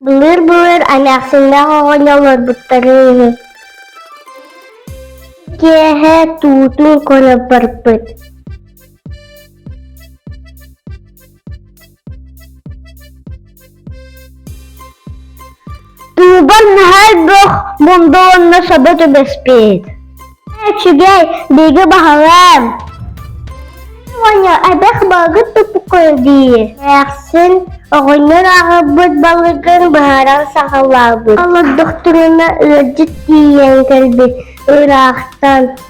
Былыр-былыр эмээхсиннээх оҕонньор олорбуттарын иһин киэһэ туутун көрө барбыт Уубар наһаа элбэх мунда уонна саба түбэспит. Үчүгэй, бигэ баһылам. Оня, эбэх балгыт тупукой дии. Эхсин, оҕонньор аҕабыт балыгын быһаран саҕалаабыт. Олордохтуруна ыалдьыт тиийэн кэлбит ыраахтан.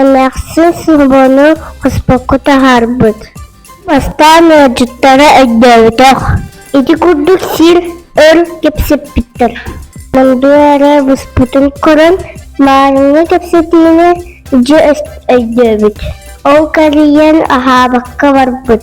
Эмээхсин субуону хоспокку таһаарбыт. Бастаан ыалдьыттара өйдөөбөтөх. Ити курдук сир, өр кэпсэппиттэр. Мунду эрэ буспутун көрөн, маарыҥҥа кэпсэтиини дьэ өйдөөбүт. Ол кэрийэн аһаабакка барбыт.